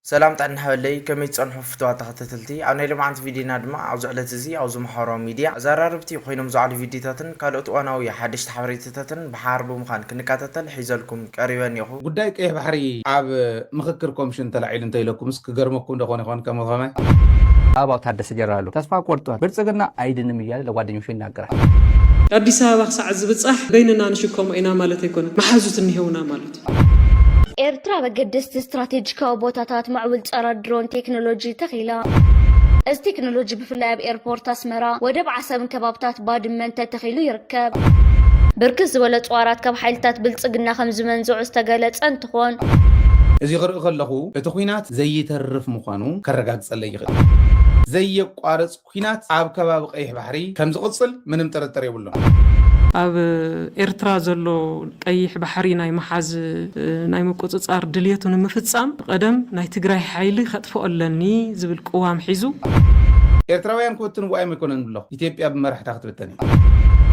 ሰላም ጥዕና ሃበለይ ከመይ ትጸንሑ ፍትዋት ተኸታተልቲ ኣብ ናይ ሎምዓንቲ ቪድዮና ድማ ኣብዚ ዕለት እዚ ኣብዚ ማሕበራዊ ሚድያ ኣዛራረብቲ ኮይኖም ዝዓሉ ቪድዮታትን ካልኦት እዋናዊ ሓደሽቲ ሓበሬታታትን ብሓባር ብምዃን ክንከታተል ሒዘልኩም ቀሪበ እኔኹ። ጉዳይ ቀይሕ ባሕሪ ኣብ ምኽክር ኮምሽን ተላዒሉ እንተኢለኩምስ ክገርመኩም ዶ ኮን ይኾን ከም ከመይ። ኣበባው ታደሰ ጀነራሉ ተስፋ ቆርጧል ብልጽግና ኣይድንም እያለ ለጓደኞቹ ይናገራል። ኣዲስ ኣበባ ክሳዕ ዝብጻሕ በይንና ንሽከሞ ኢና ማለት ኣይኮነን። መሓዙት እኒሀውና ማለት እዩ። ኤርትራ ኣብ ኣገደስቲ ስትራቴጂካዊ ቦታታት ማዕውል ጸረ ድሮን ቴክኖሎጂ ተኺላ። እዚ ቴክኖሎጂ ብፍላይ ኣብ ኤርፖርት ኣስመራ፣ ወደብ ዓሰብን ከባብታት ባድመን ተተኺሉ ይርከብ። ብርክት ዝበለ ኣጽዋራት ካብ ሓይልታት ብልጽግና ከም ዝመንዘዑ ዝተገለጸ እንትኾን፣ እዚ ክርኢ ከለኹ እቲ ኲናት ዘይተርፍ ምዃኑ ከረጋግጸለይ ይኽእል። ዘየቋርጽ ኲናት ኣብ ከባቢ ቀይሕ ባሕሪ ከምዝቕጽል ምንም ጥርጥር የብሉን። ኣብ ኤርትራ ዘሎ ቀይሕ ባሕሪ ናይ ምሓዝ ናይ ምቁጽጻር ድልየቱ ንምፍጻም ብቐደም ናይ ትግራይ ሓይሊ ከጥፍኦ ኣለኒ ዝብል ቅዋም ሒዙ፣ ኤርትራውያን ክብትንዎ ኣይምኮነን ብሎ፣ ኢትዮጵያ ብመራሕታ ክትብተን እያ።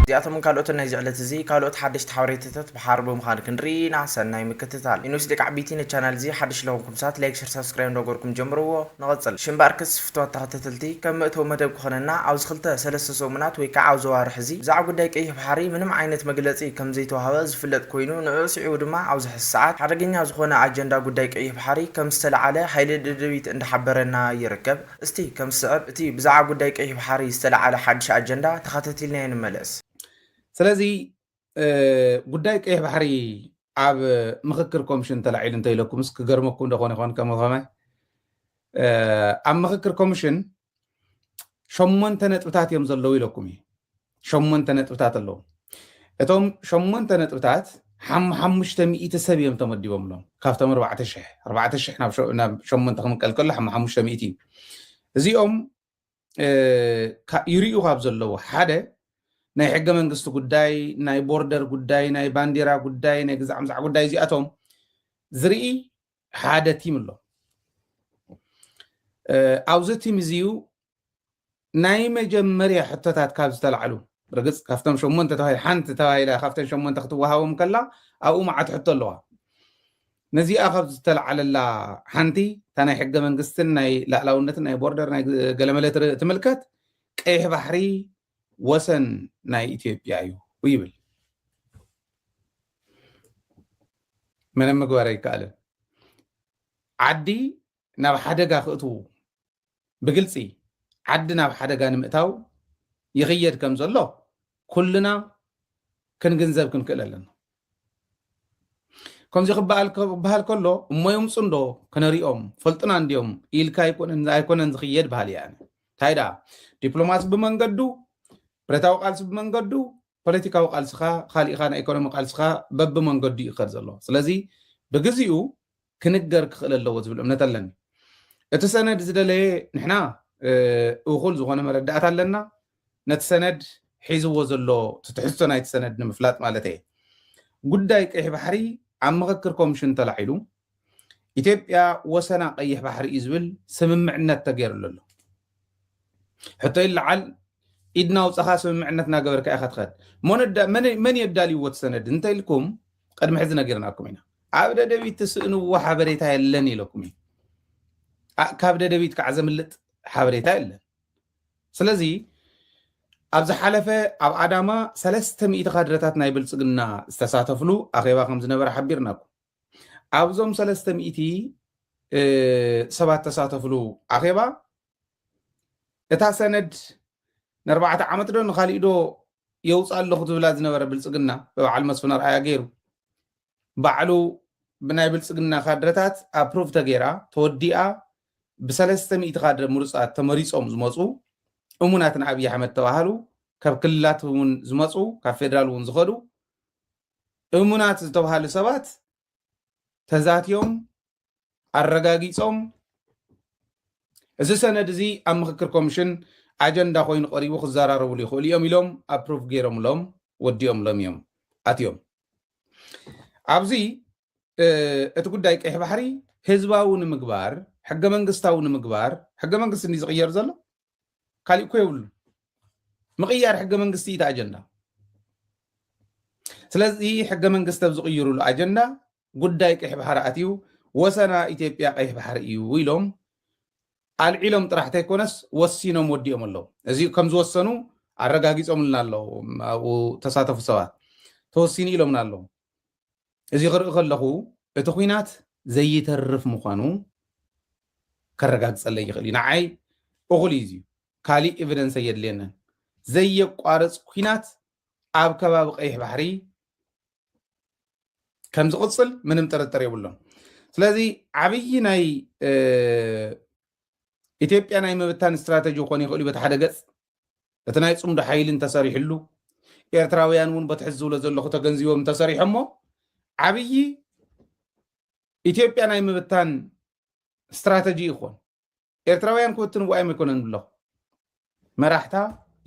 እዚኣቶምን ካልኦትን ናይዚ ዕለት'ዚ ካልኦት ሓደሽቲ ሓበሬታታት ድሓር ብምኻን ክንርኢ ኢና ሰናይ ምክትታል። ኢንስ ደቂ ዓቢይቲ ንቻናል እዚ ሓድሽ ልኾንኩም ሳት ላይክ ሸር ሳብስክራይብ እንዳገበርኩም ጀምርዎ ንቐጽል ሽም ባርክስ ፍትዋት ተኸተተልቲ ከም መእተዊ መደብ ክኾነና ኣብዚ ክልተ ሰለስተ ሰሙናት ወይ ካዓ ኣብዚ ኣዋርሕ እዚ ብዛዕባ ጉዳይ ቀይሕ ባሕሪ ምንም ዓይነት መግለጺ ከም ዘይተዋህበ ዝፍለጥ ኮይኑ ንዑኡ ስዒቡ ድማ ኣብዚ ሕዚ ሳዓት ሓደገኛ ዝኾነ ኣጀንዳ ጉዳይ ቀይሕ ባሕሪ ከም ዝተላዓለ ሓይሊ ደደቢት እንዳሓበረና ይርከብ እስቲ ከም ዝስዕብ እቲ ብዛዕባ ጉዳይ ቀይሕ ባሕሪ ዝተላዓለ ሓድሽ ኣጀንዳ ተኸታቲልናዮ ንመለስ። ስለዚ ጉዳይ ቀይሕ ባሕሪ ኣብ ምክክር ኮሚሽን ተላዒሉ እንተኢለኩምስ ክገርመኩም ደኾን ይኾን ከምኸማይ ኣብ ምክክር ኮሚሽን ሸሞንተ ነጥብታት እዮም ዘለዉ ኢለኩም እዩ ሸሞንተ ነጥብታት ኣለዉ እቶም ሸሞንተ ነጥብታት ሓሙሓሙሽተ ሚእቲ ሰብ እዮም ተመዲቦምሎም ካብቶም ኣርባዕተ ሽሕ ኣርባዕተ ሽሕ ናብ ሸሞንተ ክንቀልቀሎ ሓሙሓሙሽተ ሚእቲ እዩ እዚኦም ይርእዩ ካብ ዘለዉ ሓደ ናይ ሕገ መንግስቲ ጉዳይ ናይ ቦርደር ጉዳይ ናይ ባንዲራ ጉዳይ ናይ ግዛዕ ምዛዕ ጉዳይ እዚኣቶም ዝርኢ ሓደ ቲም ኣሎ ኣብዚ ቲም እዚዩ ናይ መጀመርያ ሕቶታት ካብ ዝተላዕሉ ርግፅ ካብቶም ሸሞንተ ተባሂ ሓንቲ ተባሂላ ካብተን ሸሞንተ ክትወሃቦም ከላ ኣብኡ መዓት ሕቶ ኣለዋ ነዚኣ ካብ ዝተልዓለላ ሓንቲ እታ ናይ ሕገ መንግስትን ናይ ላእላውነትን ናይ ቦርደር ናይ ገለመለ ትምልከት ቀይሕ ባሕሪ ወሰን ናይ ኢትዮጵያ እዩ ይብል ምንም ምግባር ኣይከኣልን ዓዲ ናብ ሓደጋ ክእትዉ ብግልፂ ዓዲ ናብ ሓደጋ ንምእታው ይኽየድ ከም ዘሎ ኩልና ክንግንዘብ ክንክእል ኣለና። ከምዚ ክበሃል ክበሃል ከሎ እሞ ይምፁ እንዶ ክነሪኦም ፈልጡና እንዲዮም ኢልካ ኣይኮነን ኣይኮነን ዝኽየድ በሃሊ እያ እንታይ ደኣ ዲፕሎማሲ ብመንገዱ ብረታዊ ቃልሲ ብመንገዱ ፖለቲካዊ ቃልስኻ ካሊእኻ ናይ ኢኮኖሚ ቃልስኻ በብመንገዱ ይኸድ ዘሎ ስለዚ ብግዚኡ ክንገር ክኽእል ኣለዎ ዝብል እምነት ኣለኒ። እቲ ሰነድ ዝደለየ ንሕና እኹል ዝኾነ መረዳእታ ኣለና፣ ነቲ ሰነድ ሒዝዎ ዘሎ እቲ ትሕዝቶ ናይቲ ሰነድ ንምፍላጥ ማለት እየ። ጉዳይ ቀይሕ ባሕሪ ኣብ ምኽክር ኮምሽን ተላዒሉ ኢትዮጵያ ወሰና ቀይሕ ባሕሪ እዩ ዝብል ስምምዕነት ተገይርሉ ኣሎ። ሕቶ ይለዓል ኢድና ውፃኻ ስምምዕነት እናገበርካ ኢኻ ትኸድ መን የዳልይዎ ትሰነድ እንተኢልኩም ቅድሚ ሕዚ ነጊርናኩም ኢና ኣብ ደደቢት ትስእንዎ ሓበሬታ የለን ኢለኩም እዩ ካብ ደደቢት ከዓ ዘምልጥ ሓበሬታ የለን ስለዚ ኣብ ዝሓለፈ ኣብ ኣዳማ ሰለስተ ሚእቲ ካድረታት ናይ ብልፅግና ዝተሳተፍሉ ኣኼባ ከም ዝነበረ ሓቢርናኩም ኣብዞም ሰለስተ ሚእቲ ሰባት ተሳተፍሉ ኣኼባ እታ ሰነድ ንኣርባዕተ ዓመት ዶ ንካሊእ ዶ የውፅእ ኣለኹ ትብላ ዝነበረ ብልፅግና ብበዓል መስፍን ኣርኣያ ገይሩ ባዕሉ ብናይ ብልፅግና ካድረታት ኣፕሩቭ ተገይራ ተወዲኣ ብሰለስተ ሚእቲ ካድረ ምሩፃት ተመሪፆም ዝመፁ እሙናት ንኣብዪ ኣሕመድ ተባሃሉ ካብ ክልላት እውን ዝመፁ ካብ ፌዴራል እውን ዝኸዱ እሙናት ዝተብሃሉ ሰባት ተዛትዮም ኣረጋጊፆም እዚ ሰነድ እዚ ኣብ ምክክር ኮሚሽን ኣጀንዳ ኮይኑ ቀሪቡ ክዘራረብሉ ይኽእሉ እዮም ኢሎም ኣፕሩቭ ገይሮምሎም ወዲኦምሎም እዮም ኣትዮም ኣብዚ እቲ ጉዳይ ቀይሕ ባሕሪ ህዝባዊ ንምግባር ሕገ መንግስታዊ ንምግባር ሕገ መንግስቲ እንዲ ዝቕየር ዘሎ ካሊእ እኮ የብሉ ምቕያር ሕገ መንግስቲ እዩ ኣጀንዳ ስለዚ ሕገ መንግስቲ ኣብ ዝቕይሩሉ ኣጀንዳ ጉዳይ ቀይሕ ባሕሪ ኣትዩ ወሰና ኢትዮጵያ ቀይሕ ባሕሪ እዩ ኢሎም ኣልዒሎም ጥራሕ ተይኮነስ ወሲኖም ወዲኦም ኣለዉ እዚ ከም ዝወሰኑ ኣረጋጊፆምልና ኣለዉ ኣብኡ ተሳተፉ ሰባት ተወሲኑ ኢሎምና ኣለዉ እዚ ክርኢ ከለኹ እቲ ኹናት ዘይተርፍ ምዃኑ ከረጋግፀለይ ይኽእል እዩ ንዓይ እኹል እዩ እዚዩ ካሊእ ኤቪደንስ ኣየድልየንን ዘየቋርፅ ኲናት ኣብ ከባቢ ቀይሕ ባሕሪ ከም ዝቕፅል ምንም ጥርጥር የብሎም ስለዚ ዓብዪ ናይ ኢትዮጵያ ናይ ምብታን ስትራተጂ ክኾን ይኽእል እዩ በቲ ሓደ ገፅ እቲ ናይ ጽምዶ ሓይሊ እንተሰሪሕሉ ኤርትራውያን እውን በቲ ሕዚ ዝብሎ ዘለኹ ተገንዚቦም እንተሰሪሖሞ ዓብዪ ኢትዮጵያ ናይ ምብታን ስትራተጂ ይኾን ኤርትራውያን ክብትንዎ ኣይመይኮነን ብለኹ መራሕታ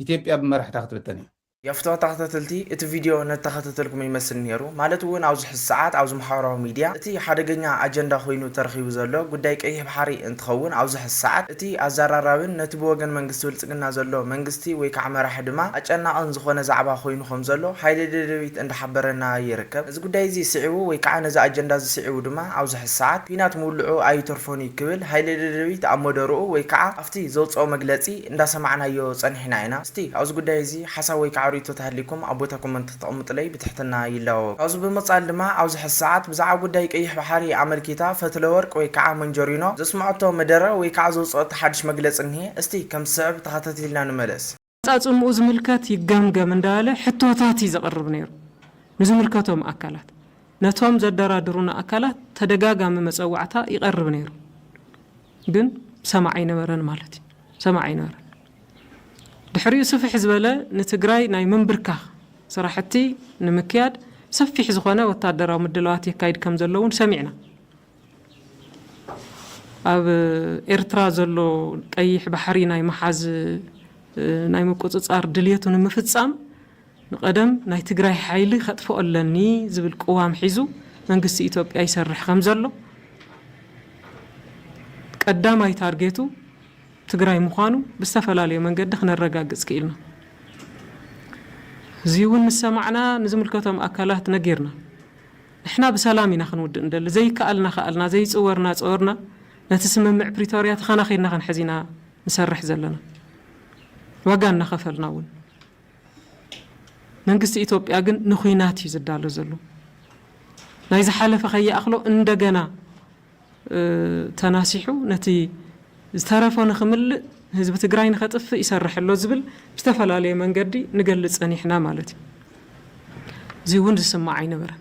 ኢትዮጵያ ብመራሕታ ክትብተን እያ የፍትሖ ተኸታተልቲ እቲ ቪድዮ ነተኸታተልኩም ይመስል ነይሩ ማለት እውን ኣብዚ ሕዚ ሰዓት ኣብዚ ማሕበራዊ ሚድያ እቲ ሓደገኛ ኣጀንዳ ኮይኑ ተረኺቡ ዘሎ ጉዳይ ቀይሕ ባሕሪ እንትኸውን ኣብዚ ሕዚ ሰዓት እቲ ኣዛራራቢን ነቲ ብወገን መንግስቲ ብልጽግና ዘሎ መንግስቲ ወይ ካዓ መራሒ ድማ ኣጨናቕን ዝኾነ ዛዕባ ኮይኑ ከም ዘሎ ሓይሊ ደደቢት እንዳሓበረና ይርከብ። ነዚ ጉዳይ እዚ ስዒቡ ወይ ካዓ ነዚ ኣጀንዳ እዚ ስዒቡ ድማ ኣብዚ ሕዚ ሰዓት ኩናት ምውልዑ ኣይተርፎን እዩ ክብል ሃይለ ደደቢት ኣብ መደርኡ ወይ ካዓ ኣብቲ ዘውጽኦ መግለጺ እንዳሰማዕናዮ ጸኒሕና ኢና። እስቲ ኣብዚ ጉዳይ እዚ ሓሳብ ወይ ካዓ ሪኢቶ ተሃሊኩም ኣብ ቦታ ኮመንት ክተቅምጥለይ ብትሕትና ይላወ። ካብዚ ብምቅጻል ድማ ኣብዚ ሐዚ ሰዓት ብዛዕባ ጉዳይ ቀይሕ ባሕሪ ኣመልኪታ ፈትለወርቅ ወይ ከዓ መንጀሪኖ ዘስመዐቶ መደረ ወይ ከዓ ዘውፀኦቶ ሓዱሽ መግለፂ እኒሀ እስቲ ከም ዝስዕብ ተኸታቲልና ንመለስ። ኣፈፃፅምኡ ዝምልከት ይገምገም እንዳበለ ሕቶታት እዩ ዘቅርብ ነይሩ ንዝምልከቶም ኣካላት። ነቶም ዘደራድሩና ኣካላት ተደጋጋሚ መፀዋዕታ ይቀርብ ነይሩ። ግን ሰማዒ ኣይነበረን ማለት እዩ ሰማዒ ኣይነበረን ድሕሪኡ ስፍሕ ዝበለ ንትግራይ ናይ ምንብርካኽ ስራሕቲ ንምክያድ ሰፊሕ ዝኾነ ወታደራዊ ምድላዋት የካይድ ከም ዘሎ እውን ሰሚዕና ኣብ ኤርትራ ዘሎ ቀይሕ ባሕሪ ናይ ምሓዝ ናይ ምቁፅፃር ድልየቱ ንምፍፃም ንቀደም ናይ ትግራይ ሓይሊ ከጥፍኦ ኣለኒ ዝብል ቅዋም ሒዙ መንግስቲ ኢትዮጵያ ይሰርሕ ከምዘሎ ቀዳማይ ታርጌቱ ትግራይ ምዃኑ ብዝተፈላለዩ መንገዲ ክነረጋግፅ ክኢልና። እዙይ እውን ምስ ሰማዕና ንዝምልከቶም ኣካላት ነጊርና። ንሕና ብሰላም ኢና ክንውድእ ንደሊ፣ ዘይከኣልና ከኣልና፣ ዘይፅወርና ፀወርና ነቲ ስምምዕ ፕሪቶርያ ተኸናኺንና ክንሕዝ ኢና ንሰርሕ ዘለና ዋጋ እናኸፈልና እውን። መንግስቲ ኢትዮጵያ ግን ንኹናት እዩ ዝዳሎ ዘሎ። ናይ ዝሓለፈ ከይኣኽሎ እንደገና ተናሲሑ ነቲ ዝተረፎ ንክምልእ ህዝቢ ትግራይ ንከጥፍእ ይሰርሕ ኣሎ ዝብል ብዝተፈላለየ መንገዲ ንገልፅ ፀኒሕና ማለት እዩ። እዚውን ዝስማዕ ኣይነበረን።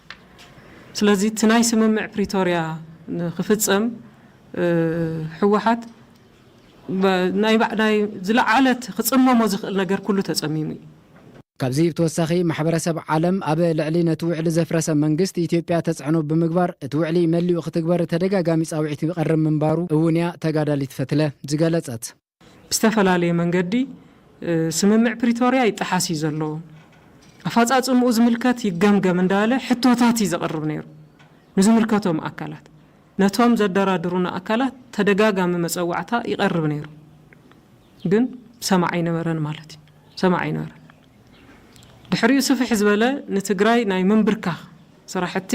ስለዚ እቲ ናይ ስምምዕ ፕሪቶርያ ንክፍፀም ህወሓት ናይ ዝለዓለት ክፅመሞ ዝኽእል ነገር ኩሉ ተፀሚሙ እዩ። ካብዚ ብተወሳኺ ማሕበረሰብ ዓለም ኣብ ልዕሊ ነቲ ውዕሊ ዘፍረሰ መንግስት ኢትዮጵያ ተፅዕኖ ብምግባር እቲ ውዕሊ መሊኡ ክትግበር ተደጋጋሚ ፃውዒት ይቐርብ ምንባሩ እውን እያ ተጋዳሊት ፈትለ ዝገለፀት። ብዝተፈላለየ መንገዲ ስምምዕ ፕሪቶርያ ይጠሓስ እዩ ዘሎ፣ ኣፋፃፅምኡ ዝምልከት ይገምገም እንዳበለ ሕቶታት እዩ ዘቕርብ ነይሩ ንዝምልከቶም ኣካላት። ነቶም ዘደራድሩና ኣካላት ተደጋጋሚ መፀዋዕታ ይቐርብ ነይሩ፣ ግን ሰማዒ ኣይነበረን ማለት እዩ፣ ሰማዒ ኣይነበረን። ድሕሪኡ ስፍሕ ዝበለ ንትግራይ ናይ ምንብርካኽ ስራሕቲ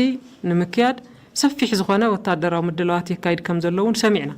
ንምክያድ ሰፊሕ ዝኾነ ወታደራዊ ምድላዋት የካይድ ከምዘሎ እውን ሰሚዕና።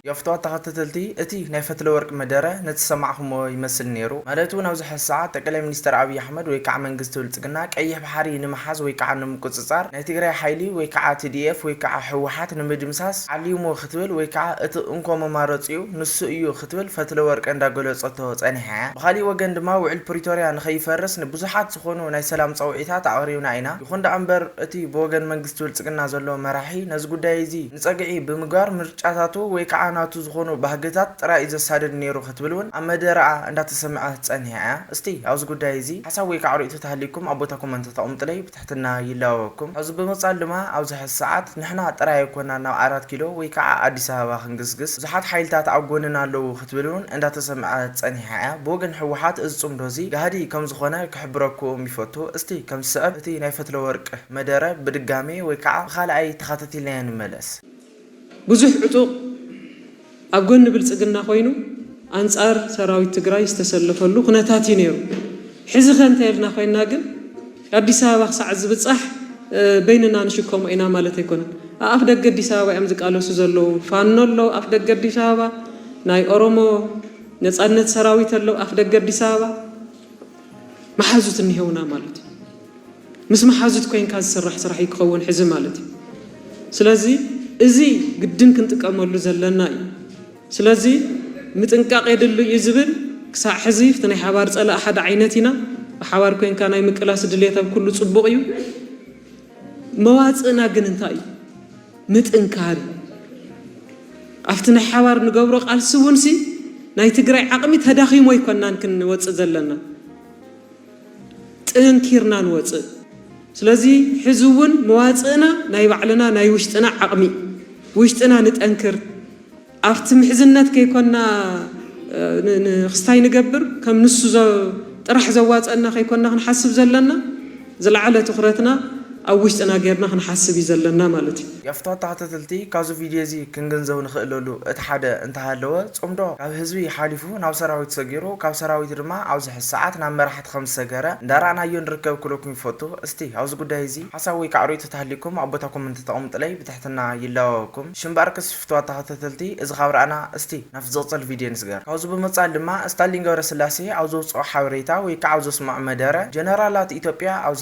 የፍትዋ ተኸታተልቲ እቲ ናይ ፈትለወርቅ መደረ ነተሰማዕኹሞ ይመስል ነይሩ ማለት እውን ኣብዚ ሐዚ ሰዓት ጠቀላይ ሚኒስተር ኣብይ ኣሕመድ ወይ ከዓ መንግስቲ ብልፅግና ቀይሕ ባሕሪ ንምሓዝ ወይ ከዓ ንምቁፅፃር ናይ ትግራይ ሓይሊ ወይ ከዓ tdf ወይ ከዓ ህወሓት ንምድምሳስ ዓሊሙ ክትብል ወይ ከዓ እቲ እንኮ መማረፂኡ ንሱ እዩ ክትብል ፈትለወርቅ እንዳገለፀቶ ፀኒሓ እያ ብኻሊእ ወገን ድማ ውዕል ፕሪቶርያ ንከይፈርስ ንብዙሓት ዝኾኑ ናይ ሰላም ፀውዒታት ኣቕሪብና ኢና ይኹን ደኣ እምበር እቲ ብወገን መንግስቲ ብልፅግና ዘሎ መራሒ ነዚ ጉዳይ እዚ ንጸግዒ ብምግባር ምርጫታቱ ወይ ከኣ ናቱ ዝኾኑ ባህግታት ጥራይ'ዩ ዘሳድድ ነይሩ ክትብል ውን ኣብ መደረኣ እንዳተሰምዐት ጸኒሓ እያ። እስቲ ኣብዚ ጉዳይ እዚ ሓሳብ ወይ ከኣ ርእይቶ ተሃልዩኩም ኣብ ቦታ ኮመንት ተቐምጡለይ ብትሕትና ይላበወኩም። ካብዚ ብምቕጻል ድማ ኣብዚ ሕዚ ሰዓት ንሕና ጥራይ ኣይኮናን ናብ ኣራት ኪሎ ወይ ከኣ ኣዲስ ኣበባ ክንግስግስ ብዙሓት ሓይልታት ኣብ ጎንና ኣለዉ ክትብል ውን እንዳተሰምዐት ጸኒሓ እያ። ብወገን ህወሓት እዚ ጽምዶ እዚ ጋህዲ ከምዝኾነ ክሕብረኩኡም ይፈቱ። እስቲ ከም ዝስዕብ እቲ ናይ ፈትለወርቅ። መደረ ብድጋሜ ወይ ከዓ ብኻልኣይ ተኻተቲልናዮ ንመለስ። ብዙሕ ዕጡቕ ኣብ ጎኒ ብልፅግና ኮይኑ ኣንፃር ሰራዊት ትግራይ ዝተሰለፈሉ ኩነታት እዩ ነይሩ። ሕዚ ከ እንተይልና ኮይና ግን ኣዲስ ኣበባ ክሳዕ ዝብፃሕ በይንና ንሽከሞ ኢና ማለት ኣይኮነን። ኣኣፍ ደገ ኣዲስ ኣበባ እዮም ዝቃለሱ ዘለዉ። ፋኖ ኣሎ ኣፍ ደገ ኣዲስ ኣበባ፣ ናይ ኦሮሞ ነፃነት ሰራዊት ኣሎ ኣፍ ደገ ኣዲስ ኣበባ፣ መሓዙት እኒሀውና ማለት እዩ። ምስ መሓዙት ኮይንካ ዝስራሕ ስራሕ እዩ ክኸውን ሕዚ ማለት እዩ ስለዚ እዚ ግድን ክንጥቀመሉ ዘለና እዩ ስለዚ ምጥንቃቅ የድሉ እዩ ዝብል ክሳዕ ሕዚ ፍቲ ናይ ሓባር ጸላእ ሓደ ዓይነት ኢና ብሓባር ኮይንካ ናይ ምቅላስ ድልየት ኣብ ኩሉ ጽቡቅ እዩ መዋጽእና ግን እንታይ እዩ ምጥንካር እዩ ኣብቲ ናይ ሓባር ንገብሮ ቃልሲ እውን ሲ ናይ ትግራይ ዓቅሚ ተዳኺሞ ኣይኮናን ክንወጽእ ዘለና ጥንኪርና ንወጽእ ስለዚ ሕዚ እውን መዋጽእና ናይ ባዕልና ናይ ውሽጥና ዓቅሚ ውሽጥና ንጠንክር ኣብቲ ምሕዝነት ከይኮና ንክስታይ ንገብር ከም ንሱ ጥራሕ ዘዋጸና ከይኮና ክንሓስብ ዘለና ዝለዓለ ትኩረትና ኣብ ውሽጥና ጌርና ክንሓስብ እዩ ዘለና ማለት እዩ። ያፍታ ተካታተልቲ ካብዚ ቪድዮ እዚ ክንግንዘብ ንክእለሉ እቲ ሓደ እንተሃለወ ጽምዶ ካብ ህዝቢ ሓሊፉ ናብ ሰራዊት ሰጊሩ ካብ ሰራዊት ድማ ኣብዚ ሕዚ ሰዓት ናብ መራሕቲ ከምዝሰገረ እንዳራእናዮ ንርከብ ክብለኩም ይፈቱ እስቲ ኣብዚ ጉዳይ እዚ ሓሳብ ወይ ከዓ ርእይቶ ተሃልዩኩም ኣብ ቦታ ኮመንት ተቀምጡለይ ብትሕትና ይላወበኩም ሽምባርክስ ፍትዋት ተካታተልቲ እዚ ካብ ራእና እስቲ ናብቲ ዝቅጽል ቪድዮ ንስገር ካብዚ ብምቅጻል ድማ እስታሊን ገብረስላሴ ኣብ ዘውጽኦ ሓበሬታ ወይ ከዓ ኣብ ዘስመዖ መደረ ጀነራላት ኢትዮጵያ ኣብዚ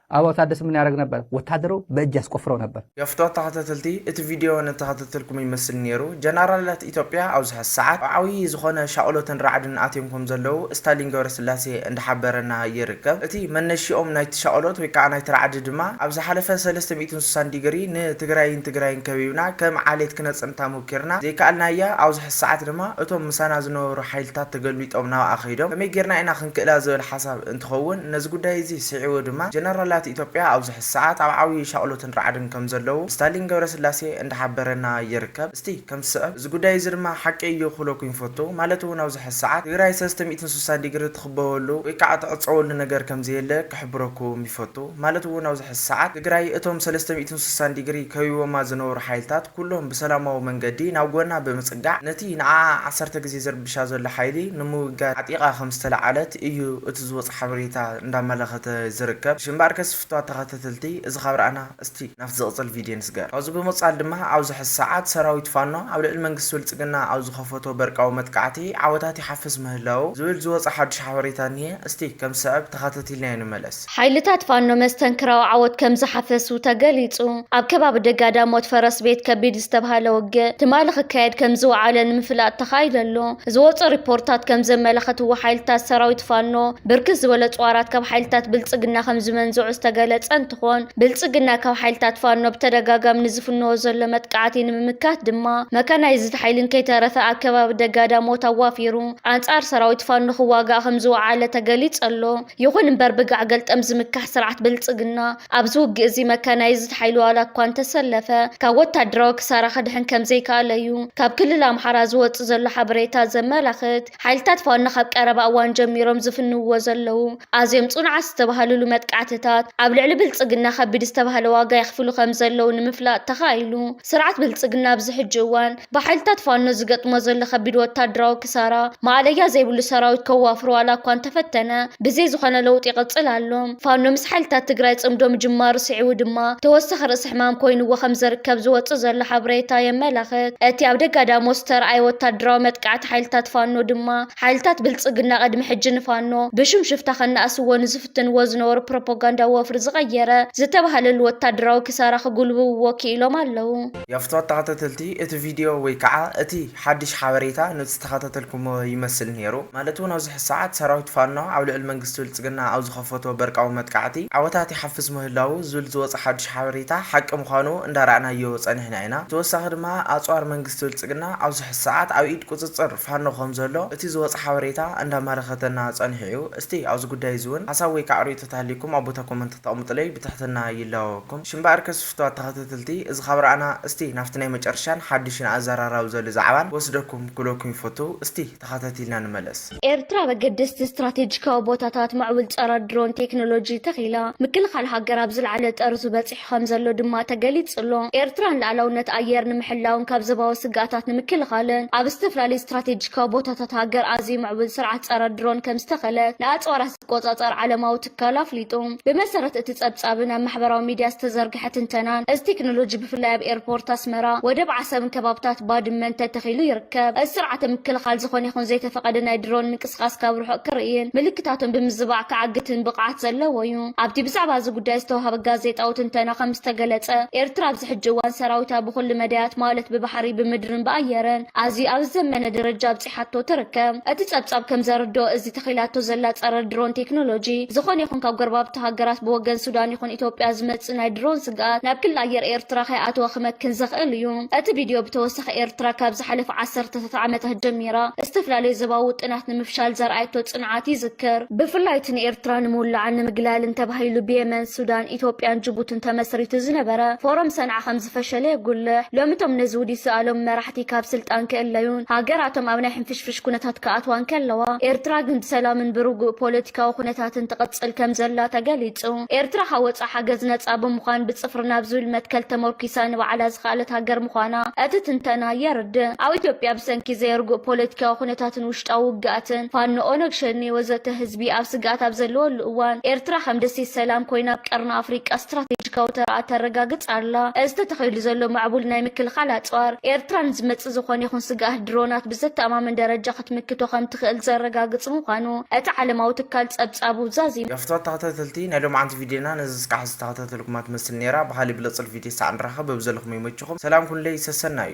ኣባው ታደሰ ምን ያረግ ነበር ወታደሩ በእጅ ያስቆፍረው ነበር። ገፍቶ ተኸታተልቲ እቲ ቪድዮ ንተኸታተልኩም ይመስል ኔሩ ጀናራላት ኢትዮጵያ ኣብዚ ሐዚ ሰዓት ኣብ ዓብይ ዝኾነ ሻቕሎትን ራዕድን ኣትዮም ከም ዘለዉ ስታሊን ገብረስላሴ እንዳሓበረና ይርከብ እቲ መነሽኦም ናይቲ ሻቕሎት ወይ ካዓ ናይቲ ራዕዲ ድማ ኣብ ዝሓለፈ ሰለስተ ሚእትን ስሳን ዲግሪ ንትግራይን ትግራይን ከቢብና ከም ዓሌት ክነፅንታ ሞኪርና ዘይካኣልናያ ኣብዚ ሐዚ ሰዓት ድማ እቶም ምሳና ዝነበሩ ሓይልታት ተገልቢጦም ናብኣ ከይዶም ከመይ ጌርና ኢና ክንክእላ ዝብል ሓሳብ እንትኸውን፣ ነዚ ጉዳይ እዚ ስዒቡ ድማ ጀነራላት ኢትዮጵያ ኣብዙሐ ሰዓት ኣብ ዓብዩ ሻቕሎትን ራዕድን ከምዘለዉ ስታሊን ገብረስላሴ እንዳሓበረና ይርከብ። እስቲ ከምቲ ዝስዕብ እዚ ጉዳይ እዚ ድማ ሓቂ እዩ ክብለኩም ይፈቱ። ማለት እውን ኣብዙሐ ሰዓት ትግራይ ሰለስተ ሚእትን ስሳን ዲግሪ እትኽበበሉ ወይ ከዓ እትዕፀወሉ ነገር ከምዘየለ ክሕብረኩም ይፈቱ። ማለት እውን ኣብዙሐ ሰዓት ትግራይ እቶም ሰለስተ ሚእትን ስሳን ዲግሪ ከቢቦማ ዝነበሩ ሓይልታት ኩሎም ብሰላማዊ መንገዲ ናብ ጎና ብምፅጋዕ ነቲ ንዓዓ ዓሰርተ ግዜ ዝርብሻ ዘሎ ሓይሊ ንምውጋድ ዓጢቓ ከምዝተለዓለት እዩ እቲ ዝወጸ ሓበሬታ እንዳመለከተ ዝርከብ ሽምበኣርከስ ዝፍትዋት ተከተተልቲ እዚ ካብ ረኣና እስቲ ናብቲ ዝቅጽል ቪድዮ ንስገር ካብዚ ብምቅጻል ድማ ኣብዚ ሕዚ ሰዓት ሰራዊት ፋኖ ኣብ ልዕሊ መንግስቲ ብልጽግና ኣብ ዝከፈቶ በርቃዊ መጥቃዕቲ ዓወታት ይሓፍስ ምህላዉ ዝብል ዝወጸ ሓዱሽ ሓበሬታ እንሄ እስቲ ከም ዝስዕብ ተከተቲልናዮ ንመለስ። ኣስመሮም። ሓይልታት ፋኖ መስተንክራዊ ዓወት ከም ዝሓፈሱ ተገሊጹ። ኣብ ከባቢ ደጋዳሞት ፈረስ ቤት ከቢድ ዝተብሃለ ውግእ ትማሊ ክካየድ ከም ዝወዓለ ንምፍላጥ ተኻኢሉ ኣሎ። ዝወጹ ሪፖርታት ከም ዘመላኸትዎ ሓይልታት ሰራዊት ፋኖ ብርክት ዝበለ ኣጽዋራት ካብ ሓይልታት ብልጽግና ከም ዝመንዘዑ ዝተገለጸ እንትኾን ብልጽግና ካብ ሓይልታት ፋኖ ብተደጋጋሚ ንዝፍንዎ ዘሎ መጥቃዕቲ ንምምካት ድማ መካናይዝድ ሓይሊን ከይተረፈ ኣብ ከባቢ ደጋዳሞት ኣዋፊሩ ኣንጻር ሰራዊት ፋኖ ክዋጋእ ከም ዝወዓለ ተገሊጹ ኣሎ። ይኹን እምበር ብጋዕ ገልጠም ዝምካሕ ስርዓት ብልጽግና ኣብዚ ውግእ'ዚ መካናይዝድ ሓይሉ ዋላ እኳ እንተሰለፈ ካብ ወታደራዊ ክሳራ ክድሕን ከምዘይከኣለ'ዩ ካብ ክልል ኣምሓራ ዝወጽእ ዘሎ ሓበሬታ ዘመላኽት። ሓይልታት ፋኖ ካብ ቀረባ እዋን ጀሚሮም ዝፍንውዎ ዘለዉ ኣዝዮም ጽኑዓት ዝተባህልሉ መጥቃዕትታት ኣብ ልዕሊ ብልጽግና ከቢድ ዝተባህለ ዋጋ የኽፍሉ ከምዘለዉ ንምፍላጥ ተኻኢሉ። ስርዓት ብልጽግና ኣብዚ ሕጂ እዋን ብሓይልታት ፋኖ ዝገጥሞ ዘሎ ከቢድ ወታደራዊ ክሳራ ማእለያ ዘይብሉ ሰራዊት ከዋፍሮ ዋላ እኳ እንተፈተነ ብዘይ ዝኾነ ለውጢ ይቕፅል ኣሎ። ፋኖ ምስ ሓይልታት ትግራይ ፅምዶ ምጅማሩ ስዒቡ ድማ ተወሳኺ ርእሲ ሕማም ኮይኑዎ ከምዘርከብ ዝወፅእ ዘሎ ሓብሬታ የመላኽት። እቲ ኣብ ደጋዳሞት ዝተርኣየ ወታደራዊ መጥቃዕቲ ሓይልታት ፋኖ ድማ ሓይልታት ብልፅግና ቅድሚ ሕጂ ንፋኖ ብሽም ሽፍታ ከናእስዎ ንዝፍትንዎ ዝነበሩ ፕሮፖጋንዳዊ ወፍሪ ዝቐየረ ዝተብሃለሉ ወታደራዊ ክሳራ ክጉልብብዎ ክኢሎም ኣለው። የፍቶ ተኸታተልቲ እቲ ቪድዮ ወይ ከኣ እቲ ሓድሽ ሓበሬታ ንዝተኸታተልኩሞ ይመስል ኔሩ ማለት ውን ኣብዚ ሕዚ ሰዓት ሰራዊት ፋኖ ኣብ ልዕሊ መንግስቲ ብልጽግና ኣብ ዝኸፈቶ በርቃዊ መጥቃዕቲ ዓወታት ይሓፍስ ምህላዉ ዝብል ዝወጸ ሓድሽ ሓበሬታ ሓቂ ምዃኑ እንዳራእናዮ ጸኒሕና ኢና ብተወሳኺ ድማ ኣጽዋር መንግስቲ ብልጽግና ኣብዚ ሕዚ ሰዓት ኣብ ኢድ ቁጽጽር ፋኖ ከም ዘሎ እቲ ዝወጸ ሓበሬታ እንዳመረከተና ጸኒሑ እዩ እስቲ ኣብዚ ጉዳይ እዚ ውን ሓሳብ ወይ ከኣ ርእይቶታት ኣልይኩም ኣብ ቦታ ኮመንት ተቅምጡለይ ብትሕትና ይላበወኩም ሽምበኣርከስ ፍትዋት ተኸተተልቲ እዚ ካብ ራኣና እስቲ ናብቲ ናይ መጨረሻን ሓዱሽን ኣዛራራቢ ዘሉ ዛዕባን ክወስደኩም ክብለኩም ይፈቱ እስቲ ተኸታቲልና ንመለስ። ኤርትራ ኣብ ኣገደስቲ ስትራቴጂካዊ ቦታታት ማዕቡል ጸረ ድሮን ቴክኖሎጂ ተኺላ፣ ምክልኻል ሃገር ኣብ ዝለዓለ ጠርዙ በጺሑ ከምዘሎ ድማ ተገሊጹ ኣሎ። ኤርትራ ንልኣላውነት ኣየር ንምሕላውን ካብ ዘባዊ ስግኣታት ንምክልኻልን ኣብ ዝተፈላለዩ ስትራቴጂካዊ ቦታታት ሃገር ኣዝዩ ምዕቡል ስርዓት ጸረ ድሮን ከምዝተኸለት ንኣጽዋራት ቆጻጻር ዓለማዊ ትካል ኣፍሊጡ። ብመሰረት እቲ ጸብጻብን ኣብ ማሕበራዊ ሚድያ ዝተዘርግሐ ትንተናን፣ እዚ ቴክኖሎጂ ብፍላይ ኣብ ኤርፖርት ኣስመራ፣ ወደብ ዓሰብን ከባብታት ባድመን ተተኺሉ ይርከብ። እዚ ስርዓተ ምክልኻል ዝኾነ ይኹን ዘይተፈቐደ ናይ ድሮን ምንቅስቓስ ካብ ርሑቕ ክርእይን ምልክታቶም ብምዝባዕ ክዓግትን ብቕዓት ዘለዎ እዩ። ኣብቲ ብዛዕባ እዚ ጉዳይ ዝተውሃበ ጋዜጣዊ ትንተና ከም ዝተገለጸ፣ ኤርትራ ኣብዚ ሕጂ እዋን ሰራዊታ ብኹሉ መዳያት ማለት ብባሕሪ፣ ብምድርን ብኣየርን ኣዝዩ ኣብ ዝዘመነ ደረጃ ሓቶ ትርከብ። እቲ ጸብጻብ ከም ዘርድኦ፣ እዚ ተኺላቶ ዘላ ጸረ ድሮን ቴክኖሎጂ፣ ዝኾነ ይኹን ካብ ጎረባብቲ ሃገራት ብወገን ሱዳን ይኹን ኢትዮጵያ ዝመጽእ ናይ ድሮን ስግኣት ናብ ክሊ ኣየር ኤርትራ ከይኣተወ ክመክን ዘኽእል እዩ። እቲ ቪድዮ ብተወሳኺ ኤርትራ ካብ ዝሓለፉ ዓሰርተታት ዓመታት ጀሚራ ዝተፈላለዩ ዘባዊ ውጥናት ንምፍሻል ዘርኣየቶ ጽንዓት ይዝክር። ብፍላይ እቲ ንኤርትራ ንምውላዕን ንምግላልን ተባሂሉ ብየመን፣ ሱዳን፣ ኢትዮጵያን ጅቡትን ተመስሪቱ ዝነበረ ፎረም ሰንዓ ከምዝፈሸለ የጉልሕ። ሎሚ እቶም ነዚ ውዲት ዝኣለሙ መራሕቲ ካብ ስልጣን ክእለዩን ሃገራቶም ኣብ ናይ ሕንፍሽፍሽ ኩነታት ክኣትዋ እንከለዋ፣ ኤርትራ ግን ብሰላምን ብርጉእ ፖለቲካዊ ኩነታትን ትቕጽል ከምዘላ ተገሊጹ። ኤርትራ ካብ ወጻእ ሓገዝ ነጻ ብምዃን ብጽፍሪ ናብ ዝብል መትከል ተመርኲሳ ንባዕላ ዝኸኣለት ሃገር ምዃና እቲ ትንተና የርድእ። ኣብ ኢትዮጵያ ብሰንኪ ዘይርጉእ ፖለቲካዊ ኩነታት፣ ኲናትን ውሽጣዊ ውግኣትን፣ ፋኖ፣ ኦነግ ሸኔ ወዘተ፣ ህዝቢ ኣብ ስግኣት ኣብ ዘለወሉ እዋን፣ ኤርትራ ከም ደሴት ሰላም ኮይና ኣብ ቀርኒ ኣፍሪቃ ስትራቴጂካዊ ተራኣ ተረጋግጽ ኣላ። እዚ ተተኺሉ ዘሎ ምዕቡል ናይ ምክልኻል ኣጽዋር፣ ኤርትራ ንዝመጽእ ዝኾነ ይኹን ስግኣት ድሮናት ብዘተኣማምን ደረጃ ክትምክቶ ከም ትኽእል ዘረጋግጽ ምዃኑ እቲ ዓለማዊ ትካል ጸብጻቡ ዛዚሙ። ፍትወት ተከታተልቲ ናይ ሎምዓንቲ ቪድዮና ነዚ እስካዕ ዝተከታተልኩማ ትመስል ነይራ ብካሊእ ብልፅል ቪድዮ ሳዕ ንራከብ በብዘለኩሞ ይመችኩም ሰላም ኩኑለይ ሰሰናዩ።